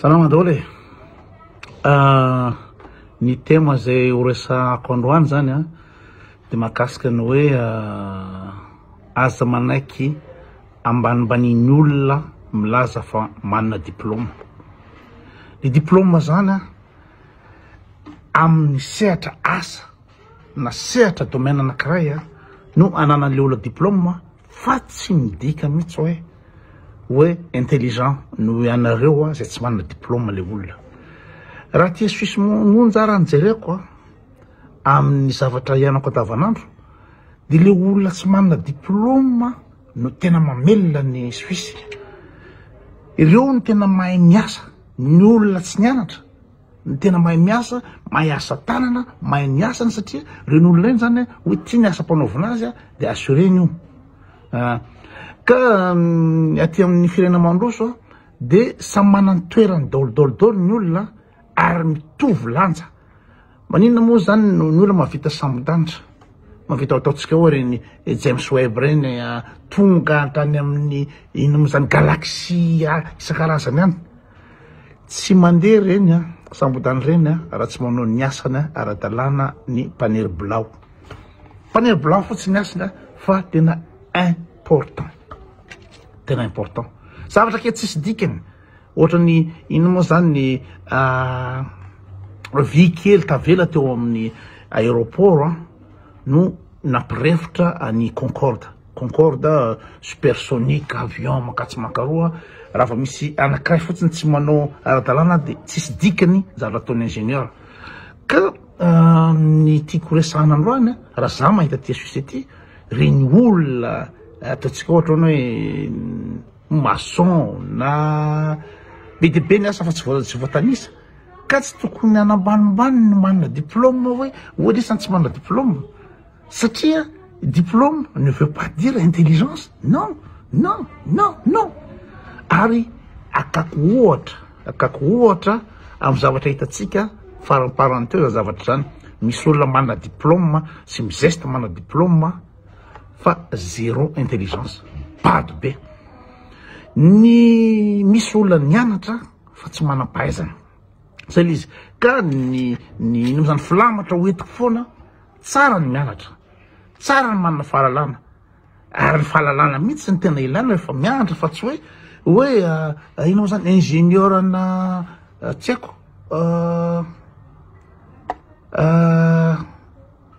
Salama daholo e! ny thème izay horesahako androany zany a dia mahakasika ny hoe aza manaiky ambanimbanian'ny olona milaza fa manana diplôme. Ny diplôme zany a amin'ny sehatra asa na sehatra domaine anankiray a no ananan'ilay olona diplôme. Fa tsy midika mihitsy hoe hoe intelligent noho ianareo izay tsy manana diplôme le olona. Raha aty Suisse monja ara ny jereko amin'ny zavatra iainako andavanandro dia le olona tsy manana diplôme no tena mamelona ny Suisse. Ireo no tena mahay miasa, ny olona tsy nianatra. Ny tena mahay miasa, mahay asa tanana, mahay ny asany satria reny olona reny zany hoe tia ny asa mpanaovina azy dia assureny io. Ah, ka mm, aty amin'ny firenena mandroso dia samy manany toerany daolidaoly daoly ny olona ary mitovy lanja. Maninona moa zany ny olona mavita sambodanitra? Mavita ataontsika ao reny eh, James Webb reny ah, tonga hatrany amin'ny inom izany galaxie ah, isan-karazany any. Tsy mandeha reny a, sambodany reny a, raha tsy manao ny asany ara-dalàna ny mpaniry bilao. Mpaniry bilao fotsiny ny asany fa tena important. Tena important. Zavatra kely tsisy dikany. Ohatra ny ino moa zany ny ah, vy kely tavela teo amin'ny aéroport no nampirefotra an'i Concorde. Concorde, supersonic, avion mankatso mankaroa, raha vao misy anakiray fotsiny tsy manao ara-dalàna dia tsisy dikany zavatra ataon'ny ingénieur. Ka ny tiako horesahana androany, raha za mahita ity suisse ity, reny olona ataontsika ohatra hoe maçon na be dia be ny asa fa tsy voatanisa, ka tsy tokony hanambanimbany ny manana diplôme hoe, ohatr'izany tsy manana diplôme, Satria diplôme ne veut pas dire intelligence, non, non, non, non! Ary akako ohatra, akako ohatra amin'ny zavatra hitantsika faramparany teo izany zavatra izany, misy olona manana diplôme sy mizesta manana diplôme fa zéro intelligence, bado be! Ny misy olona nianatra fa tsy manam-pahaizana, zay ilay izy, ka ny ny ino moa izany, filamatra hoentiko foana Tsara ny mianatra, tsara ny manana fahalalana, ary ny fahalalana mihitsy no tena ilaina rehefa mianatra fa tsy hoe hoe inona moa zany ingenieur ana tsy haiko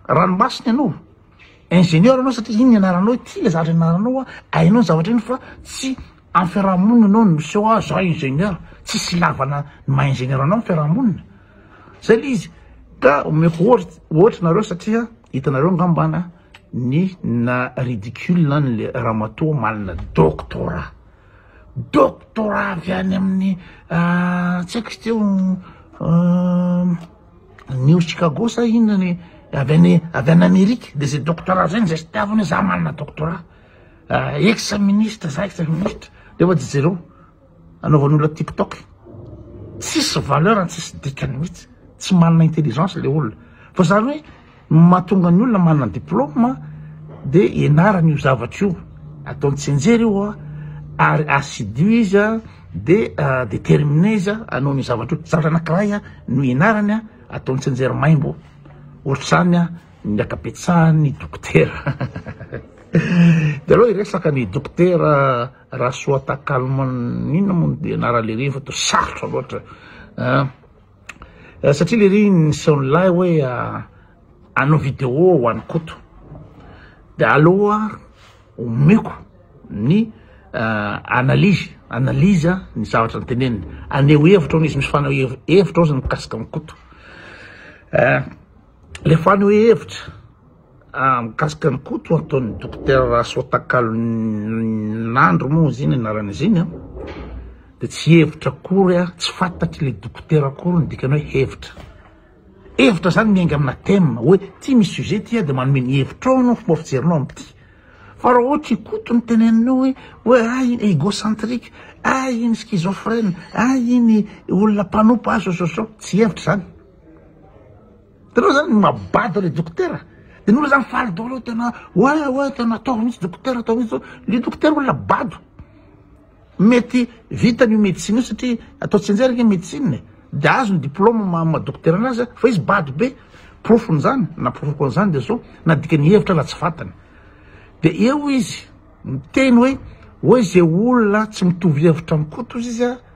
ranomasina ianao, ingenieur ianao satria iny ny anaranao, ity le zavatra nianaranao, hainao ny zavatra iny fa tsy. Am fiarahamonina anao no miseho ah za ingénieur tsisy ilavana ny maha ingénieur anao am fiarahamonina zay le izy ka omeko ohatra nareo satria hitanareo ngambana ny na ridicule an le ramatoa manana doctorat doctorat avy any amin'ny ah, tsy haiko izy teo ah, New Chicago sa inona ny avy any avy any Amerika de zay doctorat zay no zay sy tiavina hoe za manana doctorat Ex ministre za ex ministre de oa jereo anaovan'olona tik tok tsisy valeur tsisy dikany mihitsy tsy manana intelligence le olona fa zany hoe mahatonga ny olona manana diplôme de enarany io zavatra io ataony tsenjery io a ary assidu izy a de euh, déterminé izy a anao ny zavatra io zavatra anakiray a no enarany a ataony tsenjery maimbo ohatr'izany a Ny ankabetsahan' ny dokotera dia aleo hiresaka ny dokotera Rasoatakalman inona moa no dia anaran' lery fa toa sarotra loatra an satria lery niseho lahy hoe hanao video ho an'i Koto dia aleo omeko ny analyse analyse ny zavatra noteneniny haneho hevitra hono izy misy faneho hevitra hozy ny mikasika an'i Koto. Ilay fanehoa hevitra mikasika an'i Koto ataon'i Dokotera Rasoatakalonandro moa izy iny anarana izy iny dia tsy hevitra akory, tsy fantatr'ilay Dokotera akory ny dikany hoe hevitra, hevitra zany miainga amina thème hoe ity misy sujet ity dia manome ny hevitrao anao, fomba fijerinao amin'ity, fa raha ohatra i Koto no teneninao hoe hoe ah iny egocentrique, ah iny schizophrène, ah iny olona mpanompa ah zao zao zao, tsy hevitra zany. Itanao zany ny maha-bado le dokotera? De ny olona zany faly daholo tena oe oe tena ataovy mihitsy dokotera ataovy mihitsy zao. Le dokotera olona bado. Mety vitany io médecine io satria atao tsianjery ange médecine e. De azony diplôme maha maha dokotera anazy a, fa izy bado be. Porofony zany, na porofoko an'zany de zao, na dikany hevitra raha tsy fantany. De eo izy miteny hoe oe ze olona tsy mitovy hevitra am'Koto ozy izy a,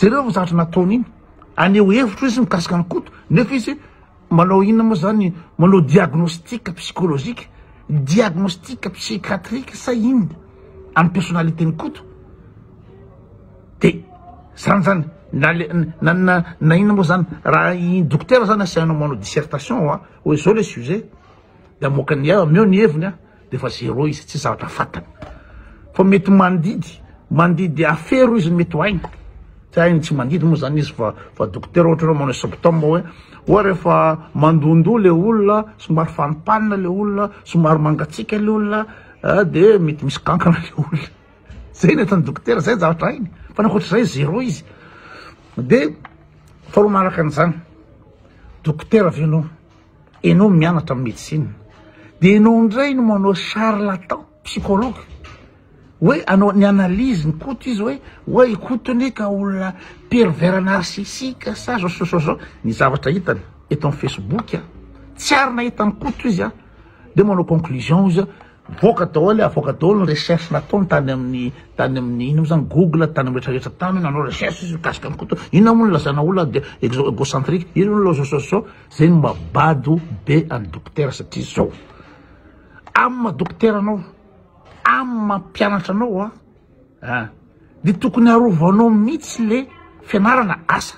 Jereo ny zavatra nataony iny, aneho hevitro izy mikasika an'i Koto, nefa izy manao inona moa zany, manao diagnostic psychologique, diagnostic psychiatrique sa inona amin'ny personnalité-n'i Koto, de zany zany, na le na na na inona moa zany, raha i dokotera zany asainao manao dissertation an, hoe zao le sujet, de amoakany, ameo ny heviny an. Defa zero izy tsy zavatra fatany fa mety mandidy mandidy afero izy mety ho hainy tsy hainy tsy mandidy moa zany izy fa fa dokotera ohatra hoe manao symptôme hoe oa rehefa mandondo le olona somary fanimpanina le olona somary mangatsika le olona ah, de mety misy kankana le olona zay ny atan'ny dokotera zay zavatra hainy fa nakoatr'izay zero izy de faharoa manaraka an'izany dokotera venao enao mianatra medecine de enao ndray no manao charlatan psychologue hoe anao ny analyse ny koto izy hoe oe koto anie ka olona pervers narcissique sa zao sa zao ny zavatra hitany eto amin'ny facebook a tsy ary nahita ny koto izy a de manao conclusion izy voaka daholo avoaka daholo ny recherche nataony tany amin'ny tany amin'ny ino zany google tany amin'ny retraretra tany nanao recherche izy mikasika ny koto inona moa ny lazana olona de egocentrique ino ny lazao zao Zay no maha bado be an'i Dokotera satria zao, amin'ny maha Dokotera anao, amin'ny maha mpianatra anao an, an, dia tokony arovanao mihitsy le fianarana asa,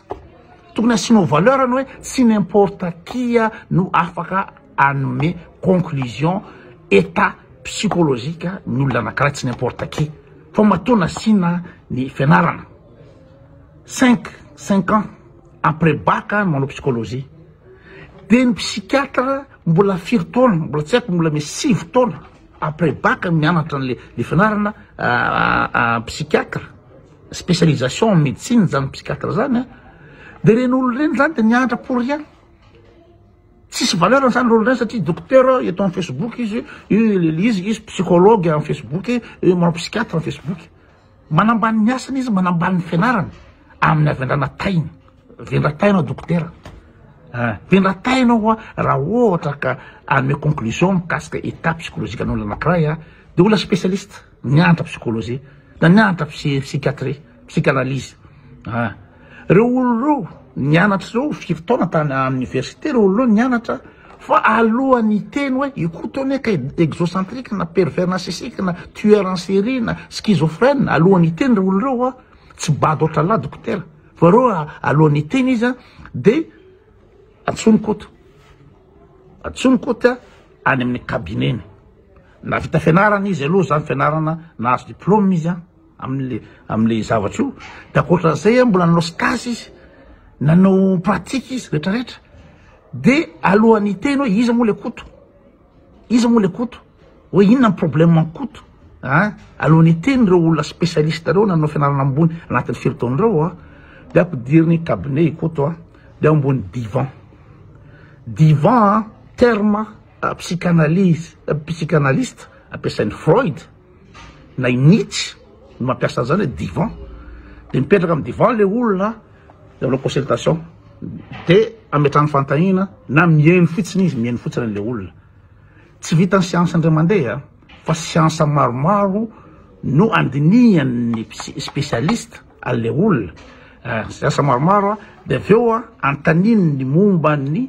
tokony asianao valeur ny hoe tsy n'importe qui no afaka hanome conclusion état psychologique ny olona anakiray, tsy n'importe qui fa matoa nasiana ny fianarana cinq, cinq ans. après bac no manao psychologie de ny psychiatre mbola firy taona mbola tsy haiko mbola me sivy taona après bac mianatra anle le fianarana psychiatre spécialisation en médecine zany psychiatre zany a de ireny olona ireny zany de mianatra pour rien tsisy valeur zany le olona ireny satria docteur eto amin'ny facebook izy io le izy izy psychologue amin'ny facebook io manao psychiatre amin'ny facebook Manambany ny asany izy, manambany ny fianarany amin'ny havendrana taina. Vendra taina aho dokotera. Ah, vendra taina aho raha ohatra ka hanome conclusion mikasika état psychologique an'olona anankiray aho, dia olona spécialiste, nianatra psychologie, na nianatra psychiatrie, psychanalyse. Ah. Reo olona reo nianatra zao firy taona tany à université reo olona reo nianatra fa alohan'ny hiteny hoe io koa tony ka exocentrique na pervers narcissique na tueur en série na schizophrène alohan'ny hiteny reo olona reo an tsy bado ohatralahy dokotera fa reo alohan'ny hiteny izy an de antsoiny koto antsoiny koto an any amin'ny cabineny na vita fianarana izy aloha zany fianarana nahazo diplôme izy an Amin'ilay amin'ilay zavatra io, dia ankoatran'izay an, mbola nanao stage izy, nanao pratique izy rehetra rehetra, dia alohan'ny hiteny hoe iza moa ilay Koto, iza moa ilay Koto, hoe inona ny problème an'i Koto an, alohan'ny hiteny ireo olona spécialiste ireo nanao fianarana ambony anatin'ny firy taona ireo an, dia ampidiriny cabinet i Koto an, dia ambony divan, divan an, terme psychanalyse, psychanalyste ampiasain'i Freud. na i Nietzsche no mampiasa an'izany hoe divan, dia mipetraka amin'ny divan ilay olona dia manao consultation, dia ametrahany fanontaniana na mihaino fotsiny izy, mihaino fotsiny an'ilay olona. Tsy vitan'ny siansa indray mandeha fa siansa maromaro no andinihan'ny spécialiste an'ilay olona, siansa maromaro dia avy eo anontaniny ny momba ny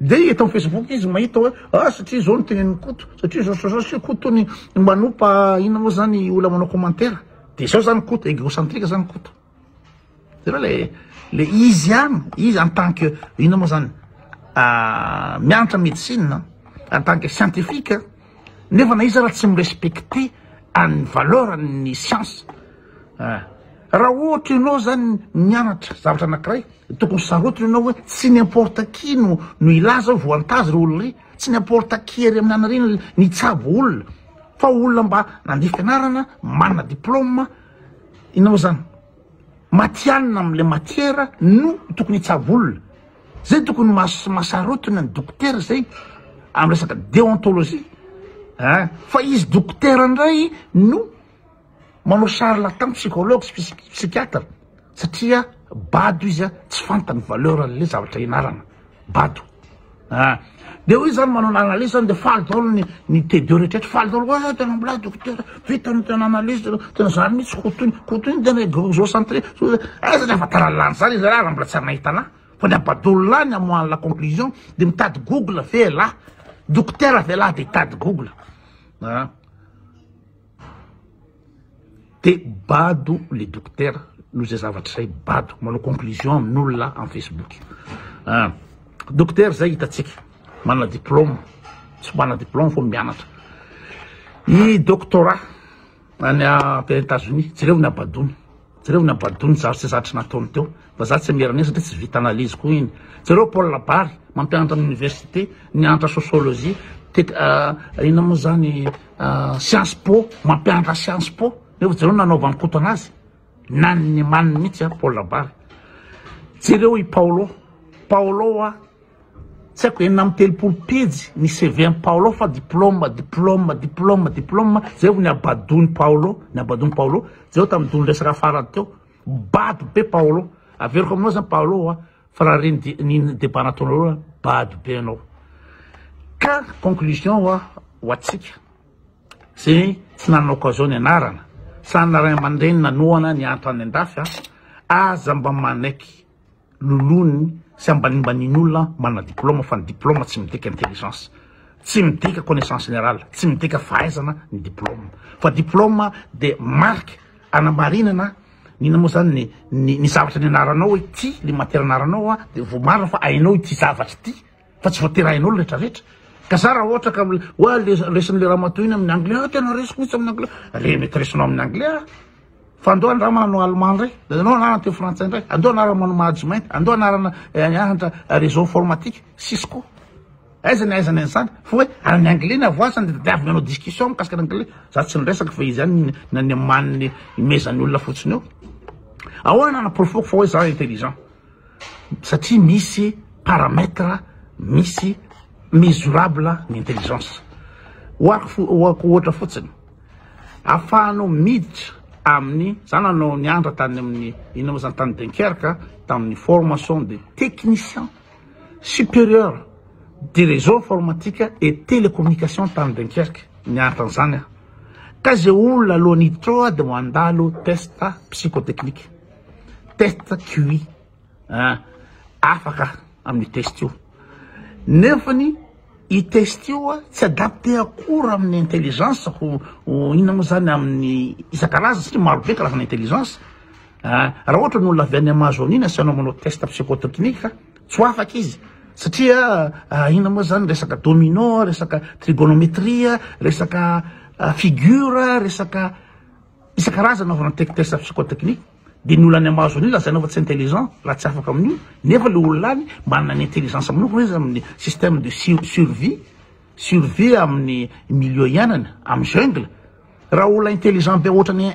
Dia eto amin'ny Facebook izy mahita hoe ah satria izao ny tenenin'i Koto, satria izao izao satria Koto tony manompa inona moa izany olona manao commentaire. Dia izao izany Koto, egocentrique izany Koto. Hitanao le le izy ihany, izy en tant que inona moa izany mianatra médecine en tant que scientifique. Nefa na iza ary tsy mi-respecter an'ny valeur ny science ah. Raha ohatra ianao zany mianatra zavatra anakiray de tokony sarotiny ianao hoe tsy n'importe qui no no hilaza hoe voantazo ry olona ry, tsy n'importe qui ery amin'ny anareo no no hitsabo olona fa olona mba nandeha fianarana, manana diplôme, inona moa zany. Matihanina amin'ilay matiera no tokony hitsavolona. Zay tokony masarotiny ny dokotera izay amin'ny resaka deontologie ah fa izy dokotera indray no manao charlatan psychologue sy psychiatre satria bado izy ah tsy fantany valeur an'ilay zavatra ianarana. bado ah de hoy zany manao analyse zany de faly daholo ny ny T2 rehetra faly daholo wa ah, tena mbola dokotera vita ny tena analyse tena zany mihitsy kotoiny kotoiny tena zo centré ah satria fa tara lany zany izy raha mbola tsy nahitana fa ny abadolo lahy ny amoahany la conclusion de mitady google ve lahy dokotera ve lahy de hitady google ah de bado le dokotera noho izay zavatra izay, bado manao conclusion amin'olona amin'ny facebook ah, dokotera izay hitantsika manana diplôme tsy manana diplôme fa mianatra i doctorat any États-Unis jereo ny abadony. Jereo ny abadony zary sy zatry nataony teo fa za tsy miera an'iny satria tsy vita analyse koa iny. Jereo Paul Labary mampianatra amin'ny université nianatra sociologie tek inona moa zany science po mampianatra science po nefa jereo nanaovan'i Koto anazy naniny maniny mihitsy a Paul Labary. Jereo i Paolo, Paolo a. Tsy haiko enina amby telopolo pejy ny CV an'i Paolo fa diplôme, diplôme, diplôme, diplôme, zay vao ny habadoan'i Paolo, ny habadoan'i Paolo, zay vao tamin'ny dondro resaka farany teo, bado be Paolo, averiko aminao zany Paolo a, fa raha re ny ny ny débat nataonareo a, bado be anao. Ka conclusion ho a- ho antsika zay tsy nanana occasion nianarana, sa ny ray aman-dreny nanohana niantra any an-dafy a, aza mba manaiky, lolony sy ambanimbanin'olona manana diploma fa ny diploma tsy midika intelligence tsy midika connaissance générale tsy midika fahaizana ny diploma fa diploma dia marque anamarinana ny inona moa zany ny ny ny zavatra ny anaranao hoe ty ny matière anaranao a dia vao marina fa hainao ity zavatra ity fa tsy voatery hain'olo retraretra ka za raha ohatra ka oa le resin'le ramatoa iny amin'ny anglais ah tena resiko mihitsy amin'ny anglais re mety resinao amin'ny anglais ah fa andao ny raha manao allemand indray anao anarana teo frantsay indray andao anarana manao mahajy mainty andao anarana ahatra eh, réseau informatique sisy koa aiza ny aizana an'izany fa hoe any anglais ny avoasany de tadiaviny anao discussion mikasika ny anglais za tsy niresaka fa izy any na ny amaniny imezan'ny olona fotsiny eo ahoana anaporofoko fa hoe za intelligent satria misy paramètre misy mesurable ny intelligence oako ohatra fotsiny afahanao miditra amin'ny za nanao ny andra tany amin'ny ina moa zany tany Dunkerque tamin'ny formation de technicien supérieur de réseau informatique et télécommunication tany Dunkerque nianatra an'izany aho ka ze olona alohan'ny hiditra ao dia mandalo test psychotechnique test QI afaka amin'ny test io nefa ny i test io a tsy adapté akory amin'ny intelligence ho ho inona moa zany amin'ny isan-karazany satria marobe karazana intelligence a raha ohatra ny olona avy any Amazonie na asianao manao test psychotechnique a tsy ho afaka izy satria inona moa zany resaka domino resaka trigonometrie resaka figure resaka isan-karazany anaovana tech test psychotechnique dia ny olana mahazo an'io lazainao fa tsy intelligent raha tsy afaka amin'io nefa le olona any manana ny intelligence manokana izy amin'ny système de survie survie amin'ny milieu iainana amin'ny jungle raha olona intelligent be ohatrany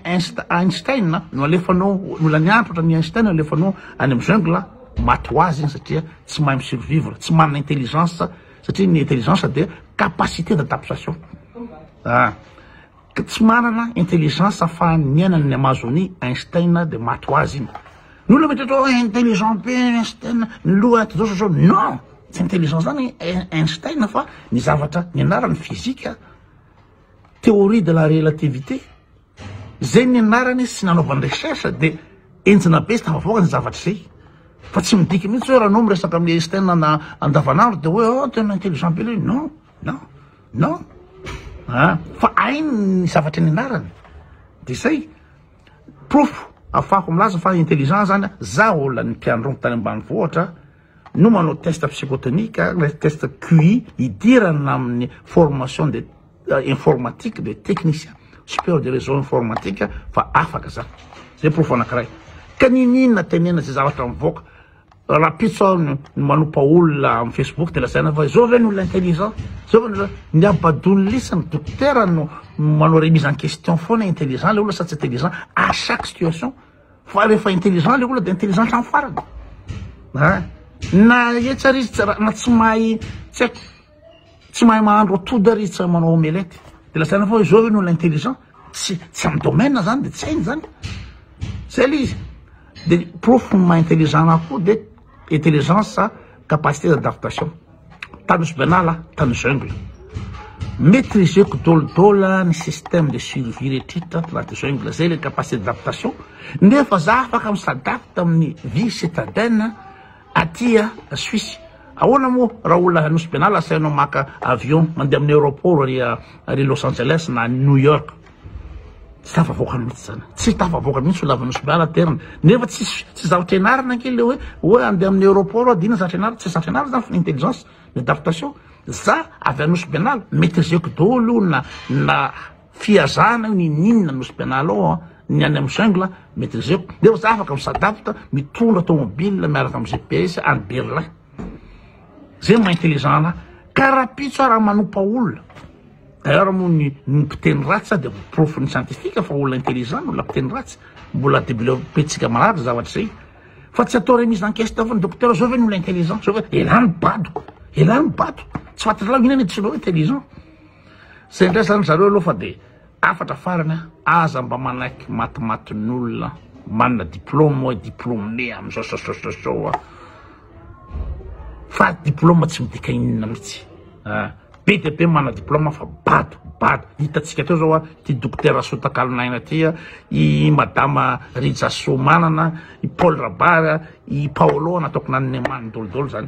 Einstein no alefanao ny olany antitra ohatrany Einstein no alefanao any amin'ny jungle maty ho azy iny satria tsy mahay mi-survivre tsy manana intelligence satria ny intelligence dia capacité d'adaptation ah Ka tsy manana intelligence afahany miaina ny Amazonie Einstein dia maty ho azy iny. Ny olona mety atao intelligent be Einstein ny loha ato zao zao non tsy intelligent zany Einstein fa ny zavatra nianarany physique théorie de la relativité zay nianarany sy nanaovany recherche dia enjana be sy tafavoaka ny zavatra zay fa tsy midika mihitsy hoe raha anao miresaka amin'ny Einstein andavanandro dia hoe oh tena intelligent be le non. Non, non, ah fa hainy ny zavatra nianarany de zay, porofo afahako milaza fa intelligent zany an, za olona nipianron tany ambanivohitra no manao test psychotonique le test QI hidirana amin'ny formation de informatique de technicien superieur de réseau informatique fa afaka za, zay porofo anakiray, ka niniana tenena zay zavatra mivoaka, Rahampitso aho ny manompa olona amin'ny Facebook dia lazaina fa izao ve ny olona intelligent? Izao ve ny olona ny abadon'ny lisa ny dokotera no manao remise en question foana intelligent ilay olona sa tsy intelligent à chaque situation fa rehefa intelligent ilay olona dia intelligent hatramin'ny farany. Na etsy ary izy na tsy mahay tsy haiko Tsy mahay mahandro atody ary tsy manao omelette. Dia lazaina fa izao ve no olona intelligent? Tsy tsy amin'ny domaine zany dia tsy hainy zany. Zay ilay izy. Dia porofo ny maha intelligent anahy koa dia intelligence sa capacité d'adaptation. Tany Nosy Benala aho, tany jungle. Maîtriseko dôla dôla ny système de survie rehetrretra ato anaty jungle. Zay ilay capacité d'adaptation. Nefa za afaka mi-s'adapte amin'ny vie citadine. Aty a Suisse ahoana moa raha olona Nosy Be Anala asainao maka avion mandeha amin'ny aeroport ary ary Los Angeles na New York tsy tafavoaka mihitsy zany tsy tafavoaka mihitsy olona avy Nosy Be Anala aterina nefa tsy tsy zahatra ianarana ange le hoe hoe andeha amin'ny aeroport aho dia inona zatra ianarana tsy zatra ianarana zany fa ny intelligence ny adaptation za avy any Nosy Be Anala maîtriser-ko daholo io na na Fihazana io niniana no spianaloo an, ny any am jungle maitrizeko nefa za afaka mi s'adapte mitondra tomobile miaraka am GPS any Berlin zay maha intelligent anah ka rapitso ara manompa olona d'ailleurs moa ny ny mpiteny ratsy sa de porofo ny scientifique fa olona intelligent ny olona mpiteny ratsy mbola develope-tsika marary zavatra zay fa tsy atao remise en question fa ny docteur zao ve ny olona intelligent zao ve elah ny badiko elah ny badiko tsy fantatrao inona ny antsoina hoe intelligent Zay ndray zany zareo aloha fa dia hafatra farany a, aza mba manaiky matimatin'olona manana diplôme hoe diplôme amin'izao sao sao sao sao a, fa diplôme tsy midika inona mihitsy a, be dia be manana diplôme fa bado bado, hitantsika teo zao a, ity dokotera Rasoa Takalon'aina ity a, i madama Rija Soamanana, i Paul Rabary a, i Paolo nataoko nanome manidolidolo zany.